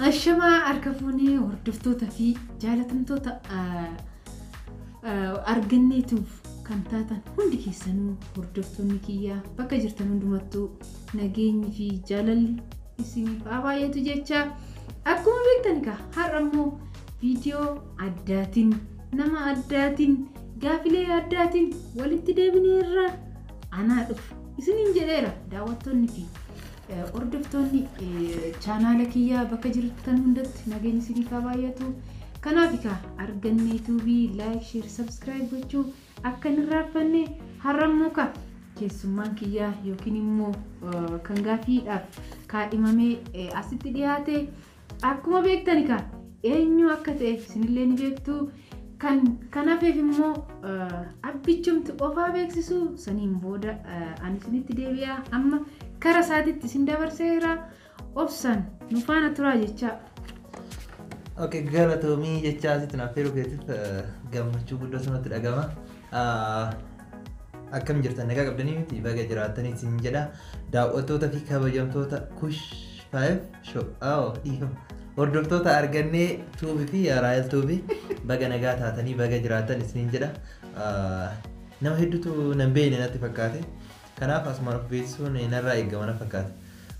Ashamaa harka fuunee hordoftoota fi jaalatamtoota arganneetuuf kan taatan hundi keessanuu hordoftoonni kiyyaa bakka jirtan hundumattuu nageenyi fi jaalalli isiniif haa baay'atu jecha akkuma beektan egaa har'a immoo viidiyoo addaatiin nama addaatiin gaafilee addaatiin walitti deebinee irraa anaa dhufu isiniin jedheera daawwattoonni fi eh, hordoftoonni eh, chaanaala kiyyaa bakka jirtan hundatti nageenyi isiniif haa baay'atu kanaaf egaa arganne yuutuubii laayik sheer sabskiraayib gochuu akka hin irraanfanne har'ammoo ka keessummaan kiyyaa yookiin immoo eh, kan gaafiidhaaf kaadhimamee eh, asitti dhiyaate Akkuma beektan egaa eenyu akka ta'e isinillee ni beektu. Kan kan hafeef immoo abbichumti ofaa beeksisu saniin booda ani isinitti deebi'a. Amma kara isaatitti isin dabarseera. Obsaan nu faana turaa jechaa. Ok galatoomii jechaa asitti naaf feeruu keetiif gammachuu guddoo sanatti dhagama. Akkam jirtan nagaa qabdanii miti baga jiraatanii isin jedha. Daawwattoota fi kabajamtoota kush 5 Show. Oh, dhiifama. Hordoftoota argannee tuubi fi raayil tuubi baga nagaa taatanii baga jiraatan isiniin jedha. Ah, Nama hedduutu nan beekne natti fakkaate. Kanaaf asumaan of beeksisuun narraa eegama na fakkaata.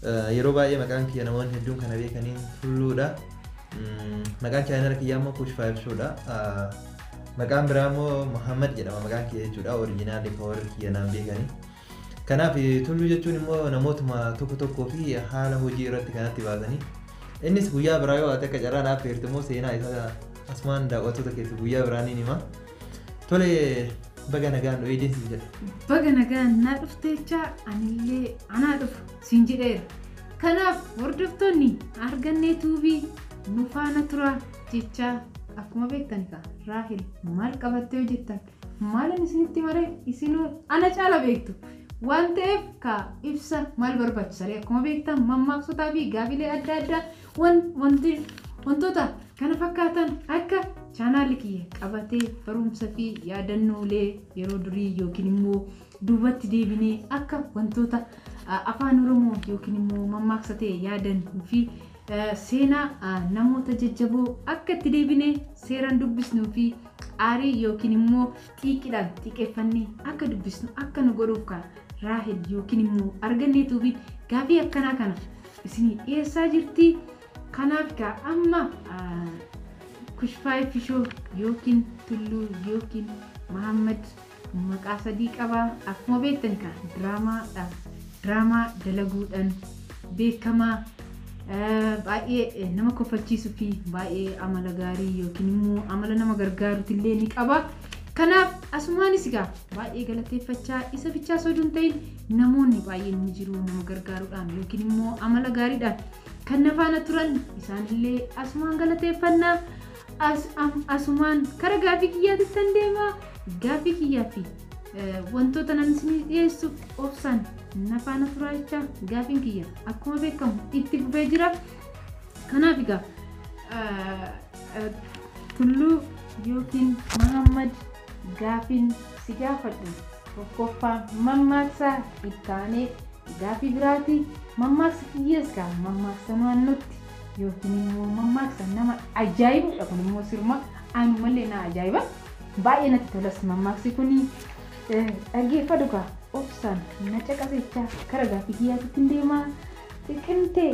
Ah, Yeroo baay'ee maqaan kiyya namoonni hedduun kana beekaniin tulluudha. Mm, Maqaan chaayinala kiyyaa immoo kuush faayif shoodha. Ah, Maqaan biraa immoo Muhammad jedhama maqaan kiyya jechuudha. Orijinaalli koo warri kiyya naan beekanii. Kanaaf tulluu jechuun immoo namootuma tokko tokkoo fi haala hojii irratti kanatti baasanii innis guyyaa biraa yoo ati akka carraa naaf feerte immoo seenaa isaa asumaan daawwattoota keessa guyyaa biraa ni hima. Tole baga nagaan nu eegdees jedha. Baga nagaan naa dhufteechaa anillee anaa dhufu siin jedheera. Kanaaf hordoftoonni argannee tuubii nu faana turaa jechaa akkuma beektan egaa Raahel maal qabattee hojjettan Maalin isinitti maree isinuu ana caala beektu waan ta'eef ka ibsa maal barbaachisaree akkuma beektan mammaaksotaa fi gaafilee adda addaa wan wanti wantoota kana fakkaatan akka chaanaalli kiyya qabatee barumsa fi yaadannoolee yeroo durii yookiin immoo duubatti deebinee akka wantoota afaan oromoo yookiin immoo mammaaksa ta'e yaadan fi Seenaa namoota jajjaboo akka itti deebinee seeraan dubbisnuu fi aarii yookiin immoo xiiqiidhaan xiiqeffannee akka dubbisnu akka nu godhuuf kaa Raahel yookiin immoo argannee tuubiin gaafii akkanaa kana isinii dhiyeessaa jirti. Kanaaf kaa amma kushfaayee fishoo yookiin tulluu yookiin Mahammad Maqaa sadii qaba akkuma beektan kaa diraamaa dha diraamaa dalaguudhan beekamaa baay'ee nama kofalchiisu fi baay'ee amala gaarii yookiin immoo amala nama gargaaruti illee ni qaba kanaaf asumaanis egaa baay'ee galateeffachaa isa bichaa osoo hin ta'in namoonni baay'een ni jiru nama gargaaruudhaan yookiin immoo amala gaariidhaan kan nafaana turan isaanillee asumaan galateeffannaa As, am, asumaan kara gaaffii kiyyaatittan deema. Gaaffii kiyyaa fi eh, wantoota nan isinii dhiyeessu obsaan na faana turaa jecha gaaffiin kiyya akkuma beekamu itti fufee jira. Kanaaf egaa eh, eh, Tulluu yookiin Mahammad gaaffiin si gaafadhu tokkoffaa mammaaksaa ittaanee gaaffii biraati. Mammaaksa kiyyees gaa mammaaksa naannootti Yookiin immoo mammaaksa nama ajaa'ibudha kun immoo sirma anumallee na ajaa'iba. Baay'ee natti tolas mammaaksi kuni dhaggeeffadhu kaa obsaan na caqasechaa kara gaaffii kiyyaatitti hin deemaa xiqimte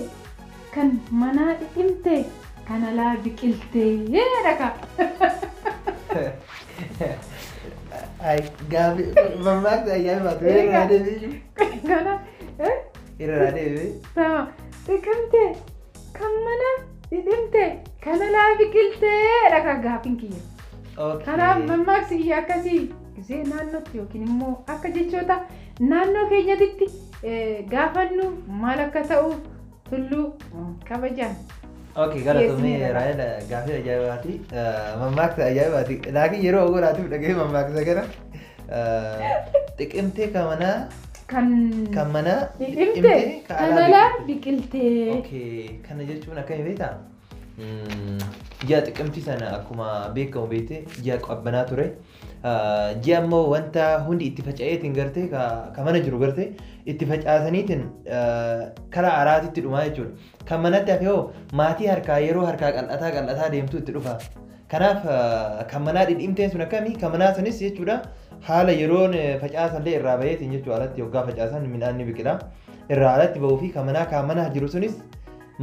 kan manaa dhidhimte kan alaa biqilte jedha kaa. Gaaffii mammaaksa ajaa'ibaa ture. Kana Irraa deebi'ee. Tama xiqimte kan mana dhidhimte kan alaa biqilteedha kan gaafin kiyya. Kanaaf mammaaksi kiyya akkasii gisee naannootti yookiin immoo akka jechoota naannoo keenyatitti gaafannu maal akka ta'u tulluu kabajaan. Ok galatoomii Raayil gaafii ajaa'ibaati. Mammaaksa ajaa'ibaati. Laakiin yeroo ogolaatiif dhaga'ee mammaaksa gara. Xiqimtee ka manaa Kan kan manaa biqilte ka kan alaa alaa biqilte. biqilte. Okay, kana jechuun akkami beektaa? Mm, Ji'a xiqimtii sana akkuma beekamu beekte ji'a qabbanaa ture. Ah, Ji'a immoo wanta hundi itti faca'eetiin garte ka ka mana jiru garte itti facaasaniitiin ah, karaa araatitti dhumaa jechuudha. Kan manatti hafe hoo maatii harkaa yeroo harkaa qal'ataa qal'ataa deemtu itti dhufa. Kanaaf kan manaa dhidhiimteen sun akkami? Kan manaa sunis jechuudha haala yeroon facaasan illee irraa baheetiin jechuudha alatti yoggaa facaasan midhaan ni biqila. Irraa alatti bahuu fi kan manaa kan manaa jiru sunis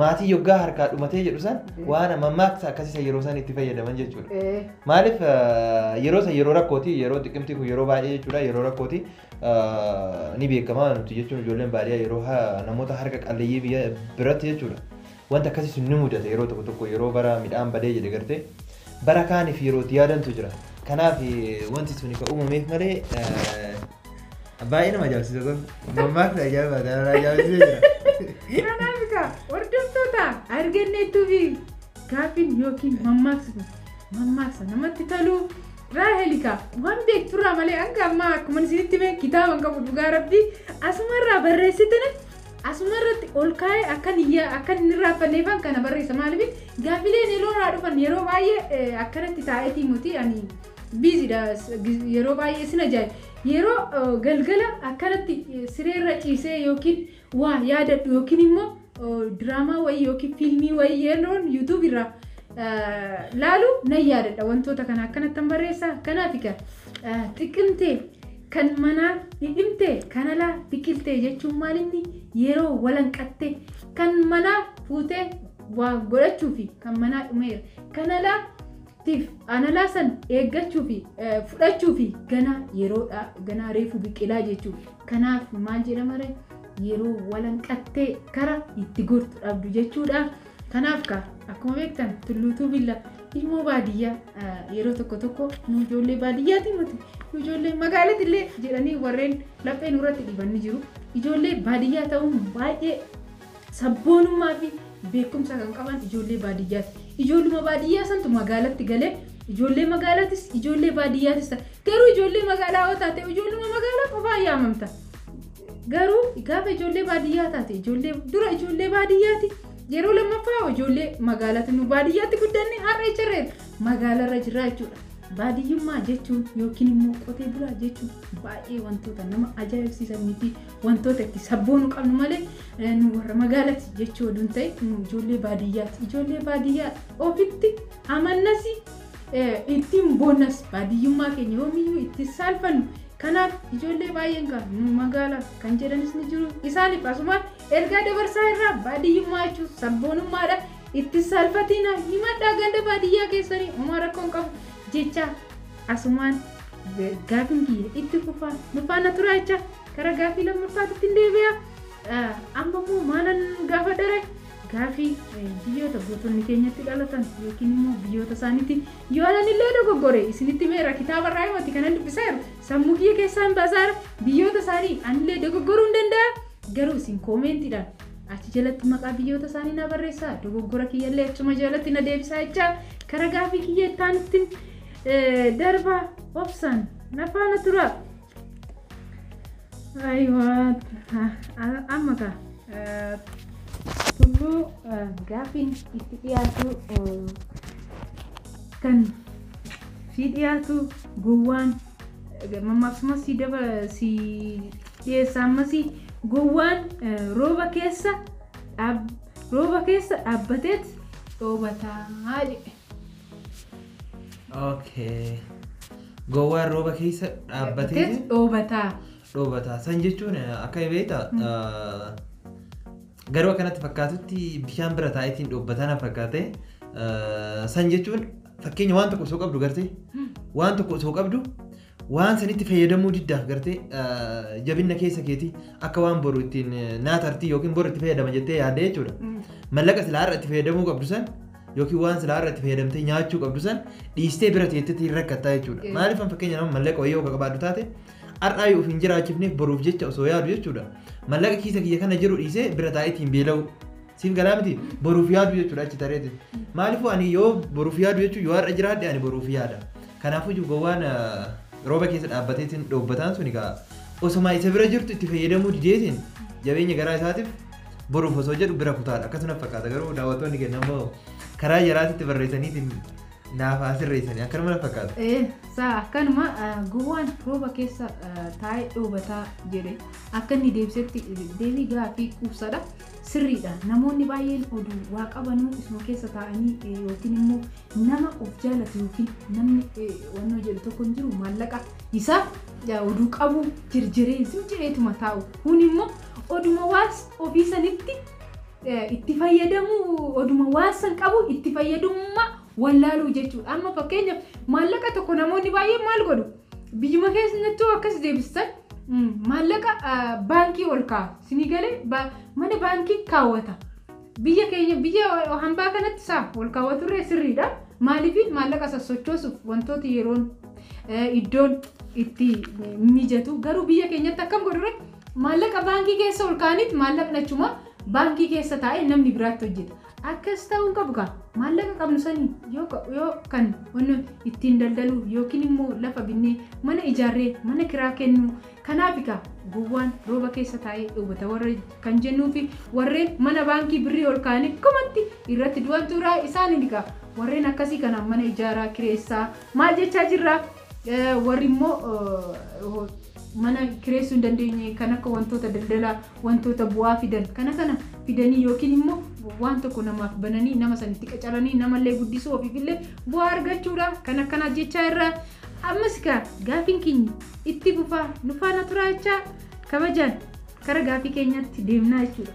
maatii yoggaa harkaa dhumatee jedhu san waan mammaaksa akkasiisa yeroo san itti fayyadaman jechuudha. Ee, Maaliif eh, yeroo san yeroo rakkooti yeroo xiqimtii kun yeroo baay'ee jechuudha yeroo rakkooti eh, ni beekama nuti jechuun ijoolleen baadiyyaa yeroo ha- namoota harka qalleeyyii biyya biratti jechuudha Wanti akkasii sun ni mudata yeroo tokko tokko yeroo bara midhaan badee jedhe gartee bara kaaniif yeroo itti yaadantu jira. Kanaaf wanti sun kan uumameef malee baay'ee nama ajaa'ibsiisa kun. Mammaaksa ajaa'ibaa kan irraa ajaa'ibsiisee jira. Kanaaf egaa hordoftoota arganneettuu fi gaaffiin yookiin mammaaksa kun mammaaksa namatti tolu Raahel egaa waan beekturraa malee hanga ammaa akkuma isinitti hime kitaaba hin qabu dhugaa rabbii asumarraa barreessitini Asuma irratti ol kaa'ee akkan hin yaa- akkan hin irraanfanneefan kana barreessa. Maaliif gaaffileen yeroo irraa dhufan yeroo baay'ee eh, akkanatti taa'eetii miti ani biizidha yeroo baay'ee sin ajaa'iba. Yeroo eh, galgala akkanatti eh, siree irra ciisee yookiin waa yaadadhu yookiin immoo eh, diraamaa wayii yookiin fiilmii wayii yeroon yuutuub irraa eh, laalu nan yaadadha wantoota kana akkanattan barreessa. Kanaaf egaa eh, xiqimtee Kan manaa dhidhimte kan alaa biqilte jechuun maal inni yeroo walanqatte kan manaa fuutee waa godhachuufi kan manaa dhumeera kan alaa tiif an alaa san eeggachuufi eh, fudhachuufi ganaa yeroodha ganaa reefu biqilaa jechuu kanaaf maal jedhama ree yeroo walanqattee kara itti gortu dhabdu jechuudha. Kanaaf kaa akkuma beektan tulluutuu billa ilmoo baadiyyaa yeroo tokko tokko nu ijoollee baadiyyaati miti nu ijoollee magaalatti illee jedhanii warreen laphee nurratti dhiban ni jiru. Ijoollee baadiyyaa ta'uun baay'ee sabboonummaa fi beekumsa kan qaban ijoollee baadiyyaati. Ijoolluma baadiyyaa santu magaalatti galee ijoollee magaalaatis ijoollee baadiyyaatis ta'a. Garuu ijoollee magaalaa yoo taate ijoolluma magaalaa qofaa yaamamta. Garuu gaafa ijoollee baadiyyaa taate ijoollee dura ijoollee baadiyyaati yeroo lammaffaa ijoollee magaalaatti nu baadiyyaatti guddanne har'a ijarree magaalarra jirra jechuudha. Baadiyyummaa jechuun yookiin immoo qotee bulaa jechuun baay'ee wantoota nama ajaa'ibsiisanii fi wantoota itti sabboonu qabnu malee eh, nu warra magaalatti jechuu oduu hin ta'in nu ijoollee baadiyyaati. Ijoollee baadiyyaa ofitti amannasi ittiin boonnas baadiyyummaa keenya yoomiyyuu itti saalfannu kanaaf ijoollee baay'een kan nu magaala kan jedhanis ni jiru isaaniif asumaan ergaa dabarsaa irraa baadiyyummaa jechuun sabboonummaadha itti saalfatiina himadhaa ganda baadiyyaa keessanii homaa rakkoon qabu jecha asumaan gaafin kiyya itti fufaa nu faana turaa jecha gara gaafii lammaffaatti ittiin deebi'a amma immoo maalan gaafa dare Gaafii, Biyyoota gootonni keenya itti dhalatan yookiin immoo biyyoota isaaniiti yoo ananillee dogoggore isinitti himeera kitaaba irraa himati kanan dubbisaa jiru sammuu kiyya keessaa hin baasaara biyyoota isaanii anillee dogoggoruu hin danda'a garuu isin koomeentiidhaan achi jalatti maqaa biyyoota isaanii na barreessaa dogoggora kiyyallee achuma jalatti na deebisaa jecha kara gaafii kiyya ittaanittiin darba obsaan na faana tura. Aywa amma ka tulluu gaaffiin itti dhiyaatu kan si dhiyaatu gowwaan mammaaksumaa si daba si dhiyeessa ammas gowwaan rooba keessa dhaab rooba keessa dhaabbateet dhoobataa jedhe. Okay. Gowwaan rooba keessa dhaabbatee Teet dhoobataa. dhoobataa. San jechuun eh, akka beekta eh, garuu akkanatti fakkaatutti bishaan bira taa'eetiin dhoobbataa na fakkaate. Eh, San jechuun fakkeenya waan tokko osoo qabdu gartee waan tokko osoo qabdu Waan sanitti fayyadamuu diddaaf gartee jabinna keessa keetii akka waan boru ittiin naa tartii yookiin boru itti fayyadama jettee yaadda jechuudha. Mallaqa silaa irra itti fayyadamuu qabdu san yookiin waan silaa irra itti fayyadamtee nyaachuu qabdu san dhiistee bira teettetti hin rakkattaa jechuudha. Eh. Maaliif an fakkeenya nama mallaqa wayii yoo ka qabaaddu taate har'aa yoo of hin jiraachifneef boruuf jecha osoo yaadu jechuudha. Mallaqa kiisa kiyya kana jiru dhiisee bira taa'ee ittiin beela'uu. Siin galaa miti boruuf yaadu jechuudha achi tareeti. Maaliifuu ani yoo boruuf yaadu jechuun yoo har'a jiraadhe ani boruuf yaada. Kanaafuu iyyuu gowwaan ah, rooba keessa dhaabbatee isin dhoobbataan sun egaa osoma isa bira jirtu itti fayyadamuu dideetiin jabeenya garaa isaatiif boruuf osoo jedhu bira kutaadha. Akkasuma fakkaata garuu daawwattoonni keenya immoo karaa jaraatitti barreessaniitiin naaf haa sirreessanii akkanuma na fakkaata. Ee, saa akkanuma ah, gowwaan rooba keessa ah, taa'ee dhoobataa jedhe akka inni deebisetti deebii gaafii quubsadha. Sirriidha, namoonni baay'een oduu waa qabanuu isuma keessa taa'anii yookiin immoo nama of jaalatu yookiin namni wannoo jedhu tokko hin jiru maallaqa isa oduu qabu jirjiree zimjireetuma taa'u. Kun immoo oduma waas ofii sanitti itti fayyadamu oduma waan san qabu itti fayyadummaa wallaaluu jechuudha. Amma fakkeenyaaf maallaqa tokko namoonni baay'een maal godhu? Biyyuma keessanitti hoo akkas deebistan mm, maallaqa ah, baankii ol kaa'a. Sinii galee ba- mana baankii kaawwata. Biyya keenya biyya hambaa kanatti saa ol kaawwaturree sirriidha. Maaliif maallaqa sassochoosuuf wantoota yeroon eh, iddoon itti mijatu. Garuu biyya keenyatti akkam godhure maallaqa baankii keessa ol kaa'aniit maallaqni achuma baankii keessa taa'ee namni biraatti hojjeta. Akkas ta'uu hin qabu kaa! Maallaqa qabnu saniin yoo ka- yoo kan wanni ittiin daldaluu yookiin immoo lafa binnee mana ijaarree mana kiraa kennuu kanaafi kaa gowwaan rooba keessa taa'ee dhoobata warra kan jennuu fi warreen mana baankii birrii ol kaa'anii kumatti irratti du'antu jira isaaniin kaa warreen akkasii kanaan mana ijaaraa kireessaa maal jechaa jirra Eh, warri immoo eh, mana kireessuu hin dandeenye kan akka wantoota daldalaa wantoota bu'aa fidan kana kana fidanii yookiin immoo waan tokko namaaf bananii nama sanitti qacaranii namallee guddisuu ofiifillee bu'aa argachuudha kan akkanaa jechaa irraa ammas kaa gaafiin keenya itti fufaa nu faana turaa jechaa kabajaan kara gaafii keenyatti deemnaa jechuudha.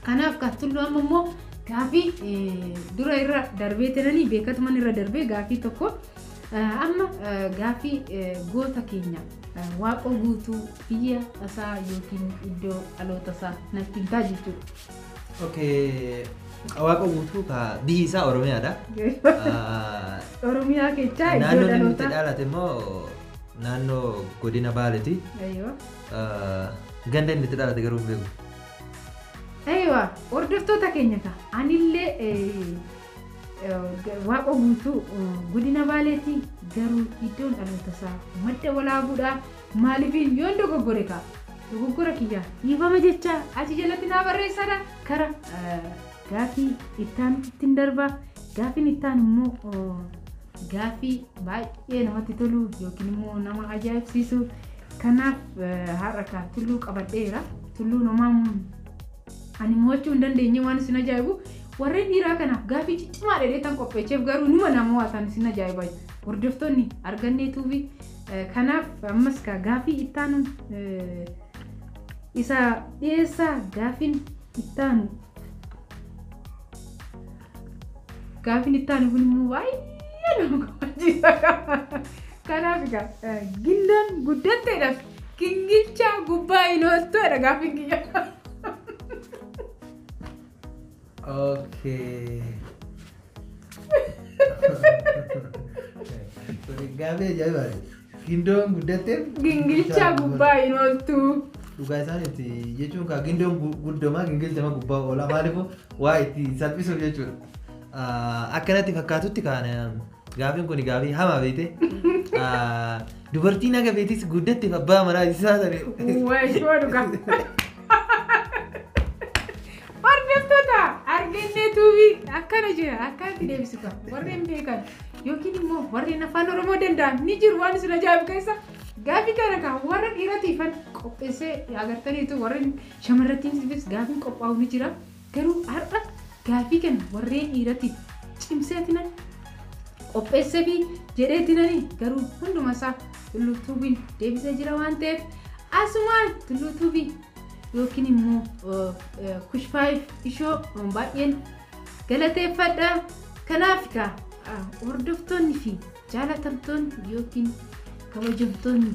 Kanaaf kan tullu amma immoo gaafii eh, dura irra darbee tenanii beekatuman irra darbee gaafii tokko eh, amma eh, gaafii eh, goota keenya eh, waaqoo guutuu Biyya isaa yookiin iddoo dhaloota isaa natti himtaa jechuudha. Okay. Waaqa guutuu ka biyyi isaa Oromiyaadha. Ah, Oromiyaa keessaa iddoo Naannoon inni itti dhaloota. dhaalate immoo naannoo godina Baaleeti. Eeyyoo. Ah, Ganda inni itti dhaalate garuu hin beeku. Eeyyoo. Hordoftoota keenya ta'a. Anillee eh, eh, waaqa guutuu eh, godina baaleetii garuu iddoon dhaloota isaa madda walaabuudhaa Maalifiin yoon dogoggore kaa. Dogoggora kiyyaa. Dhiifama jechaa. Achi jalatti naa barreessaadha. Kara gaafii ittaanutittin darba. Gaafiin ittaanu immoo gaafii baay'ee namatti tolu yookiin immoo nama ajaa'ibsiisu. Kanaaf har'a kaa tulluu qabadheera. Tulluun homaa ani mo'achuu hin dandeenye waan isin ajaa'ibu. Warreen dhiiraa kanaaf gaafii ciccimaa dheedheetan qopheecheef garuu numa namo'atan isin ajaa'iba. Hordoftoonni argannee tuubii Kanaaf ammas gaa gaafii ittaanu isa dhiyeessaa gaafiin ittaanu. Gaafiin ittaanu kun immoo baay'ee nama gammachiisa. Kanaaf egaa eh, gindaan guddatteedhaaf gingilchaa gubbaa hin ooltuudha gaafiin kiyya. Okay. Gaafii ajaa'ibaati. Gindoon guddatteef. Gingilcha gubbaa hin ooltu. Dhugaa isaaniiti jechuun kaa gindoon gu- guddoma gingilchama gubbaa oola maaliifuu waa itti salphisuuf jechuudha. Ah, Akkanatti fakkaatutti kaan gaafiin kun gaafii hamaa beekte. Ah, Dubartiin haga beetis guddatteef abbaa manaa isaa sanii. Waashoo dhugaa. Hordoftoota Argannee Tuubii akkana jira akka itti deebisu qaba. Warreen beekan yookiin immoo warreen afaan Oromoo danda'an ni jiru waan isin ajaa'ibu keessa gaaffii kana kan warra dhiiratiifan qopheessee agartaniitu warreen shamarrattiifis gaaffiin qophaa'u ni jira. Garuu har'a gaaffii kana warreen dhiiratiif cimseetinan qopheessee fi jedheetinanii garuu hundumasaa tulluu tuubiin deebisee jira waan ta'eef asumaan tulluu tuubii yookiin immoo kush 5 ishoo baay'een galateeffadha kanaaf kaa hordoftoonni fi jaalatamtoonni yookiin kabajamtoonni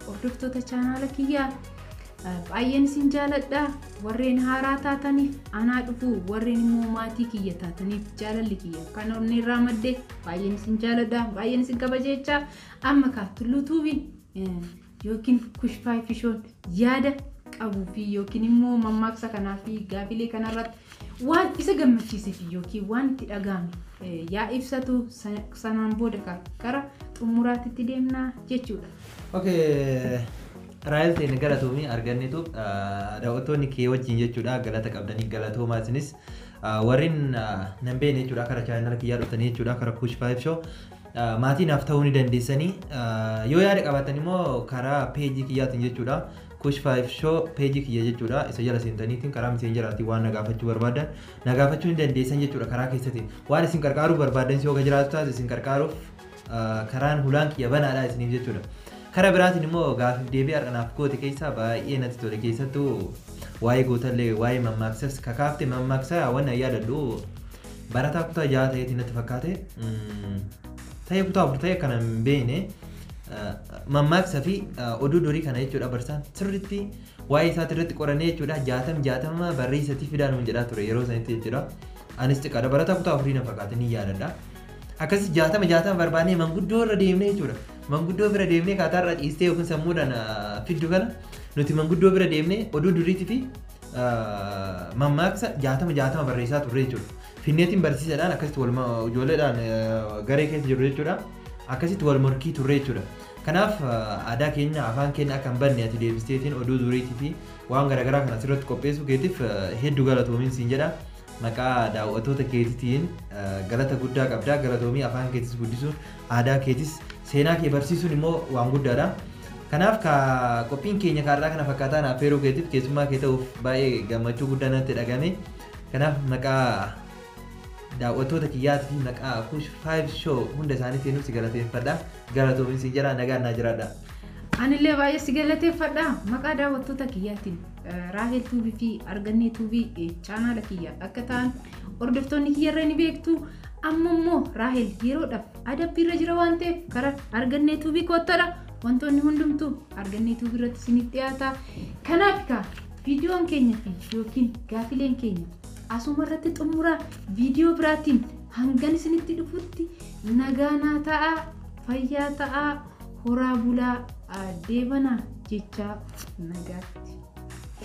hordoftoota chaanaala kiyyaa baay'een isin jaaladha warreen haaraa taataniif anaa dhufu warreen immoo maatii kiyya taataniif jaalalli kiyya kan onnee irraa madde baay'een isin jaaladha baay'een isin kabajeechaa amma kaa tulluutuubiin yookiin kushfaay fishoon yaada qabuu fi yookiin immoo mammaaksa kanaa fi gaafilee kanarratti waan isa gammachiisee fi yookiin waan itti dhaga'ame eh, yaa ibsatu sa- sanaan booda ka- gara xumuraatitti deemna jechuudha. Okay. Raayil teenya galatoomii argannetu daawwattoonni kee wajjin jechuudha galata qabdanii galatoomaa isinis ah, warreen ah, nan beekne jechuudha kara chaayinala kiyyaa dhuftanii jechuudha kara kush faayif shoo Maatii naaf ta'uu ni dandeessanii. Yoo yaada qabaattan immoo karaa peejii kiyyaatiin jechuudha. Kush 5 show peejii kiyya jechuudha. Isa jala seentaniitiin karaa miseenjaraatiin waan na gaafachuu barbaaddan na gaafachuu ni dandeessan jechuudha karaa keessatiin. Waan isin qarqaaruu barbaaddan yoo jiraatu taate isin qarqaaruuf karaan hulaan kiyya banaadha isiniif jechuudha. Kara biraatiin immoo gaafiif deebii har'a naaf goote keessaa baay'ee natti tole keessattuu waa'ee gootallee waa'ee mammaaksas kakaafte mammaaksa waan yaadadhu Barataa kutaa ja'a ta'eeti natti fakkaate. Ta'ee kutaa afur ta'e kana hin beekne. Mammaaksa fi oduu durii kana jechuudha barsaan sirriitti waa'ee isaati irratti qorannee jechuudha jaatam jaatama barreessatii fidaa nuun jedhaa ture yeroo sanitti jechuudha. Anis xiqqaadha barataa kutaa afurii na fakkaate ni yaadadha. Akkasii jaatama jaatama barbaannee manguddoo irra deemnee jechuudha. Manguddoo bira deemnee kaataarra ciistee yookiin sammuudhaan fiddu kana nuti manguddoo bira deemnee oduu duriitii fi mammaaksa jaatama jaatama barreessaa turre jechuudha. Finneetiin barsiisadhaan akkasitti wal ijoolleedhaan garee keessa jiru jechuudha. Akkasitti wal morkii turre jechuudha. Kanaaf aadaa keenya afaan keenya akka hin banne ati deebisteetiin oduu duriitii fi waan garaagaraa kana asirratti qopheessuu keetiif hedduu galatoomiin siin jedha. Maqaa daawwattoota keetiitiin galata guddaa qabda. Galatoomii afaan keetis guddisuun aadaa keetis seenaa kee barsiisuun immoo waan guddaadha. Kanaaf ka qophiin keenya kaarraa kana fakkaataa na affeeruu keetiif keessummaa kee ta'uuf baay'ee gammachuu guddaa natti dhagame. Kanaaf maqaa daawwattoota kiyyaati fi maqaa Kush 5 Show hunda isaaniitiinuu si galateeffadha. Galatoomi siin jedha nagaan naa jiraadha. Anillee baay'ee si galateeffadha. Maqaa daawwattoota kiyyaatiin Raahel Tuubii fi Argannee Tuubii chaanaala kiyya akka ta'an hordoftoonni kiyyarra ni beektu. Amma immoo Raahel yeroodhaaf adabbii irra jira waan ta'eef karaa argannee tuubii koottadha. Wantoonni hundumtuu argannee tuubii irratti isiniif dhiyaata. Kanaaf egaa viidiyoon keenya fi yookiin gaafileen keenya asuma irratti xumuraa viidiyoo biraatiin hangan isinitti dhufutti nagaanaa ta'aa fayyaa ta'aa horaa bulaa deebanaa jechaa nagaatti.